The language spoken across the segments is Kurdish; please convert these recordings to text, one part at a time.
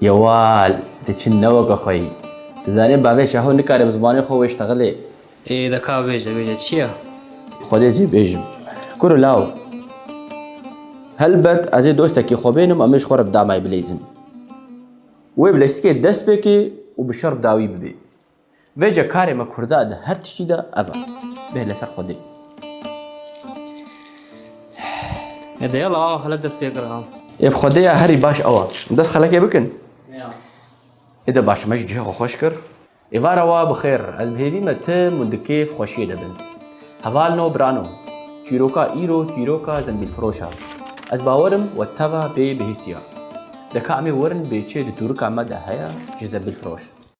Yewal, tu çi ne weke xwe yî. Tu zanî bavê Şaho nikare bi zimanê xwe wê ji texilê. Ê de ka bêje, bêje çi ye? Xwedê cê bêjim. Kuro law. Helbet ez ê dostekî xwe bênim em ê ji xwe re bi damay bileyzin. Wê bi leştikê dest pê kê û bi şer bi dawî bibê. Vêce karê me kurda di her tiştî de ev e. Bê li ser xwe dê. Ne deya la awa xelek dest pê kira. Ev xwedeya herî baş ew e. Dest xelekê bikin. Ê de baş me jî cihê xwe xweş kir. Êvara wa bi xêr. Ez bi hêvî me tim û di kêf xweşiyê de bin. Hevalno birano. Çîroka îro çîroka zembîlfiroş e. Ez bawer im we teva bê bihîstiya. De ka em ê werin bê çê di tûrika me de heye ji zembîlfiroş.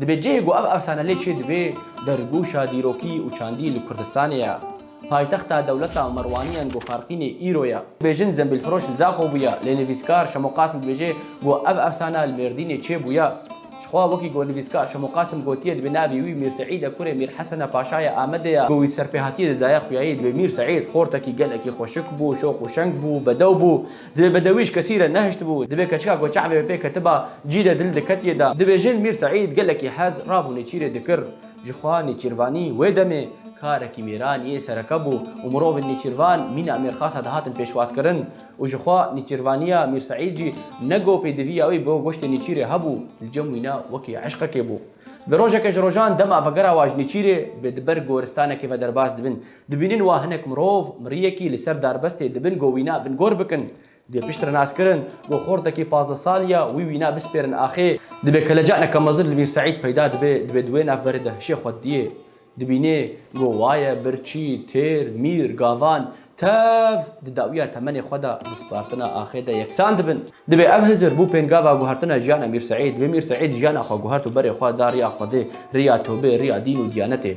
Dibê cihê ku ev efsane lê çêdibe dergûşa dîrokî û çandî li Kurdistanê ye. Paytexta dewleta Merwaniyan ku Farqînê îro ye. Bêjin zembîlfiroş li Zaxo bûye, lê nivîskar Şemo Qasim dibêje ku ev efsane li Mêrdînê çê bûye. Jixwe wekî ku nivîskar Şemo Qasim gotiye dibê navê wî Mîr Seîd e kurê Mîr Hesene Paşayê Amedê ye ku wî di serpêhatiyê de daye xuyayî dibê Mîr Seîd. Xortekî gelekî xweşik bû, şox û şeng bû, bedew bû. Divê bedewî ji kesî re nehiştibû, divê keçika ku çavê wê pê ketiba cî de dil diketiye da. Dibêjin Mîr Seîd gelekî hez rabû nêçîrê dikir. Ji xwe nêçîrvanî wê demê karekî mêranî yê sereke bû û mirovên nêçîrvan mîna mêrxasa dihatin pêşwazkirin û ji xwe nêçîrvaniya Mîr Seîd jî ne go pêdiviya wî bo goştê nêçîrê hebû li cem wîna wekî eşqekê bû. Di rojeke ji rojan dema vegera wan ji nêçîrê bi di ber goristanekê ve derbas dibin. Dibînin wa hinek mirov miriyekî li ser darbestê dibin go wîna bin gor bikin. Dibê piştre nas kirin go xortekî pazdeh salî ya wî wîna bispêrin axê. Dibê keleca neka mezin li Mîr Seîd peyda dibe, dibê di wê navberê de hişê xwe didiyê. Dibînê go waye, birçî, têr, mîr, gavan, tev di dawiya temenê xwe de, di spartina axê de yeksan dibin. Dibê ev hizir bû pêngava guhertina jiyana Mîr Seîd. Dibê Mîr Seîd jiyana xwe guhert û berê xwe da riya Xwedê, riya tewbê, riya dîn û diyanetê.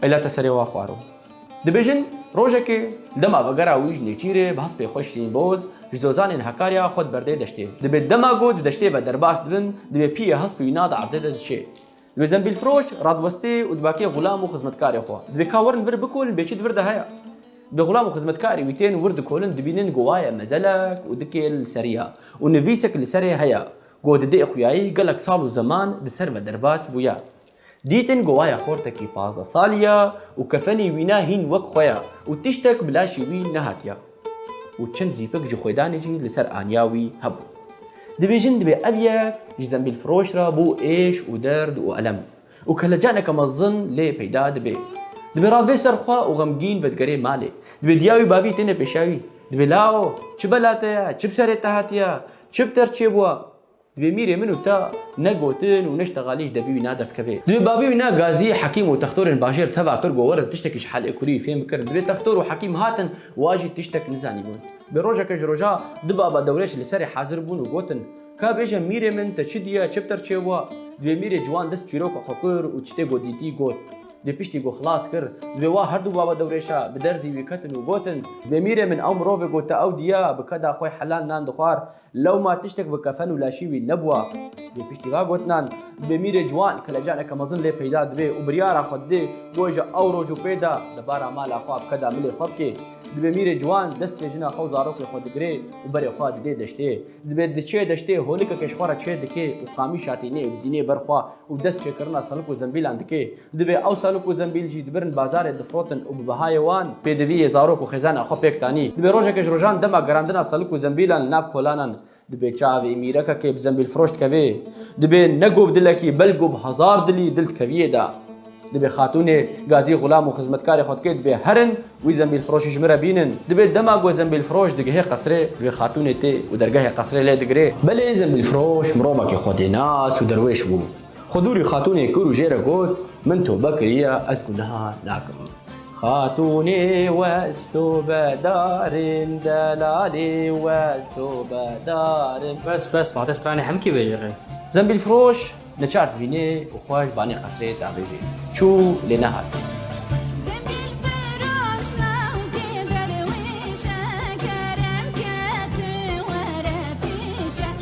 Peyla te serê wa xwaro. Dibêjin rojekê li dema vegera wî ji Nêçîrê bi hespê xwe Şirîn Boz ji dozanên Hakarya xwe diberdê deştê. Dibê dema ku di deştê ve derbas dibin dibê piyê hesp û îna di erdê de diçê. Dibê zembîlfiroş, radwestê û dibakê xulam û xizmetkarê xwe. Dibê ka werin vir bikolin bê çi di vir de heye. Dibê xulam û xizmetkarê wî tên wir dikolin dibînin ku waye mezelek û dikê li serî ya û nivîsek li serê heye ku di dê xuyayî gelek sal û zeman di ser ve derbas bûye. Dîtin ku waya xortekî pazdeh salî ya û kefenî wî ne hîn wek xwe ya û tiştek bi laşê wî nehatiya û çend zîpik ji xwedanê jî li ser aniya wî hebû. Dibêjin divê ev yek ji zembîlfiroş re bo êş û derd û elem û kelecaneke mezin lê peyda dibe. Divê razbê ser xwe û xemgîn vedigerê malê. Divê diya wî bavî têne pêşa wî. Divê lao, çi bela te ye, çi bi serê te hatiya, çi bi te re çêbûwa. Divê mîrê min û te ne gotin û ne ji teqalê ji debî wî na devkeve. Divê bavê wî na Gazî, Hekîm û textorên bajêr teva kir ku werin tiştekî ji Helê Kurî fêm bikirin. Divê textor û Hekîm hatin û a jî tiştek nizanîbûn. Bi rojeke ji roja du baba dewrêj li serê hazir bûn û gotin, Ka bêje mîrê min te çi diye, çi bi te re çêbûa? Divê mîrê ciwan dest çîroka xwe kir û tiştê ku dîtî got. Divê piştî ku xilas kir, divê wa her du baba dewrêşa bi derdî wî ketin û gotin, Divê mîrê min ew mirovê ku te ew diye, bi keda xwe helal nan dixwar, Lewma tiştek bi kefen û laşî wî nebûwa. Lê piştî va gotinan, demîrê ciwan kelecaneke mezin lê peyda dibe û biryara xwe dide ku ji ew roj û pê de di bara mala xwe bi keda milê xwe bike. Dibe mîrê ciwan destê jina xwe û zarokê xwe digire û berê xwe dide deştê. Dibe diçe deştê holike keşxwe re çêdike û qamîşatê nê û dînê ber xwe û dest çêkirina salib û zembîlan dike. Divê ew salûk û zembîl jî dibirin bazarê difrotin û bi bihayê wan, pêdiviyê zarok û xêzan a xwe pêk danî, dibê rojeke ji rojan dema gerandina salûk û zembîlan li nav kolanan dibê çavê mîrekekê bi zembîlfiroş dikevê, dibê ne go bi dilekî belgo bi hezar dilî dil dikeviyê da. Dibê xatûnê gazî xulam û xizmetkarê xwe dikê dibê herin wî zembîlfiroşî ji min re bînin. Dibê dema go zembîlfiroş digihê qesirê wê xatûnê tê û dergehê qesirê lê digirê. Belê zembîlfiroş mirovekî xwedênas û derwêş bû. Xudûrî xatûnê kûr û jê re got, Min tobe kiriye, ez ku niha nakim. Xatûnê west tobe darin, delalê west tobe darin. Bes, bes, ma te stranê hemkî vejî rê. Zembîlfiroş neçar divînê û xwe ji banê qesrê davêjê. Çû, lê nehat.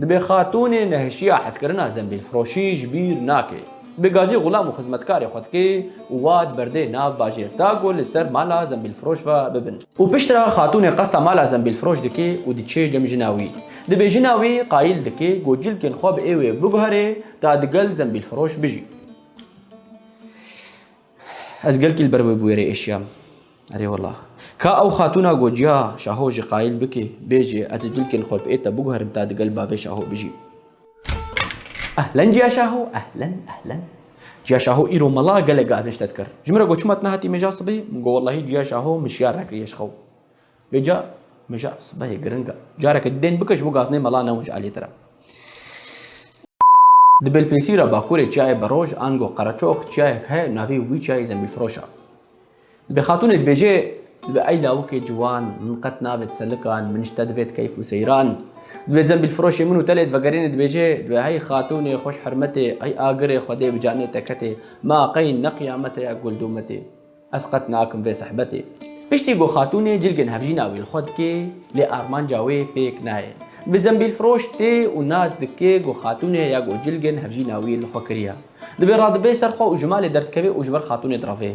Dibe xatûnê nehişiya hezkirina zembîlfiroşî ji bîr nake. Bi gazî xulam û xizmetkarê xwe dike û wa di berdê nav bajêr da ku li ser mala zembîlfiroş ve bibin. Û piştre xatûnê qesta mala zembîlfiroş dike û diçe cem jina wî. Dibe jina wî qayîl dike ku cilkên xwe bi êwê biguherê ta digel zembîlfiroş bijî. Ez gelkî li ber wê bûyerê êşiyam. Erê wela. Ka ew xatûna got, Ya, şaho jî qayîl bike, bêje, ez ê dilkê li xwe bi êta biguherim ta di gel bavê şaho bijîm. Ehlen Ciya Şaho, ehlen, ehlen. Ciya Şaho îro mala gelek gazinç te dikir. Ji min re got, Çima tu nehatî mêja sibê? Min got, Wellahî Ciya Şaho min şiyar nekiriye ji xew. Vê ca mija sibehê giring e. Careke dên bike ji bo gaznê mela newin ji aliyê te re. Di Belpênsîra Bakurê çiyayê Beroj ango Qereçox çiyayek heye navê wî çiyayê Zembîlfiroş e. Dibê xatûnê dibêje Dibê ey lawikê ciwan min qet navêt selikan min ji te divêt keyf û seyran. Dibê Zembîlfiroşê min û te lê divegerînê dibêje Dibê hey xatûnê xweş hermetê Hey agirê xwedê bi canê te ketê Ma qey ne qiyamet e ya gul dûmetê. Ez qet nakim vê sehbetê. Piştî ku xatûnê cilgên hevjîna wî li xwe dikê, lê armanca wê pêk nayê. Bi zembîlfiroş tê û nas dike ku xatûnê ya ku cilgên hevjîna wî li xwe kiriya. Divê radibe ser xwe û ji malê derdikeve û ji ber xatûnê direve.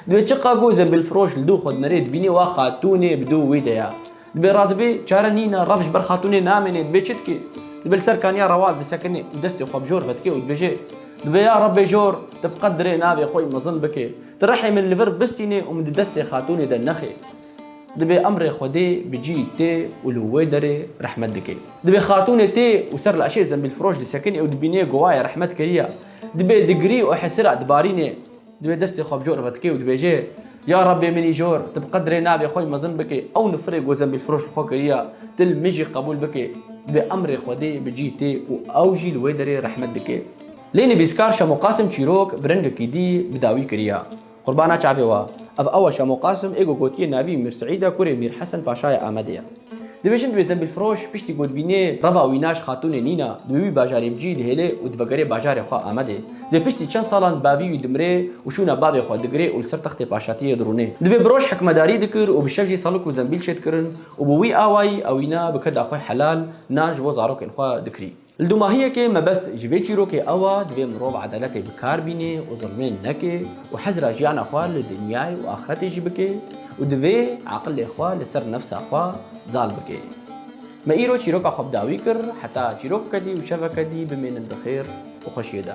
Divê çiqas ku zembîlfiroş li dû xwe dinere dibîne wa xatûnê bi dû wî de ya. Dibê radibê çare nîn e, rev ji ber xatûnê namêne, dibê çi dike? Dibê li ser kaniya rewal disekine û destê xwe bi jor vedike û dibêje, Dibê ya Rebê jor, tu bi qet dirê navê xwe yî mezin bikî. Tu rihê min li vir bistînî û min di destê xatûnê de nexî. Dibê emrê Xwedê bi cî tê û li wê derê rehmet dike. Dibê xatûnê tê û ser li eşê zembîlfiroş disekine û dibîne gowaye rehmet kiriye. Dibê digirî û hesira dibarîne. Divê destê xwe bi cor ve dike û dibêje, Ya Rabbê min îjor, tu bi qedrê navê xwe mezin bike, ew nifirê ku zembîlfiroş li xwe kiriye, tu li min jî qebûl bike. Divê emrê Xwedê bi cî tê û ew jî li wê derê rehmet dike. Lê nivîskar Şemo Qasim çîrok bi rengekî dî bi dawî kiriye. Qurbana çavê we. Ev ew e Şemo Qasim ê ku gotiye navî Mîr Seîd e, kurê Mîr Hesen Paşaya Amedê ye. Dibêjin divê Zembilfiroş piştî godbînê reva Wînaş Xatûnê Nîna di wî bajarê bicî dihêlê û divegerê bajarê xwe Amedê. Divê piştî çend salan di bavî wî dimirê û şûna bavê xwe digirê û li ser textê paşatiyê dirûnê. Divê bi roj hikmedarî dikir û bi şev jî salik û zembil çêdikirin û bi wî awayî ewîna bi keda xwe helal nan ji bo zarokên xwe dikirî. Li dûmahiyekê mebest ji vê çîrokê ew a divê mirov edaletê bi kar bînê û zilmên neke û hezira jiyana xwe li dinyayê û axretê jî bike û divê eqilê xwe li ser nefsa xwe zal bike. Me îro çîroka xwe bi dawî kir heta çîrokeke dî û şeveke dî bimênin di xêr û xweşiyê de.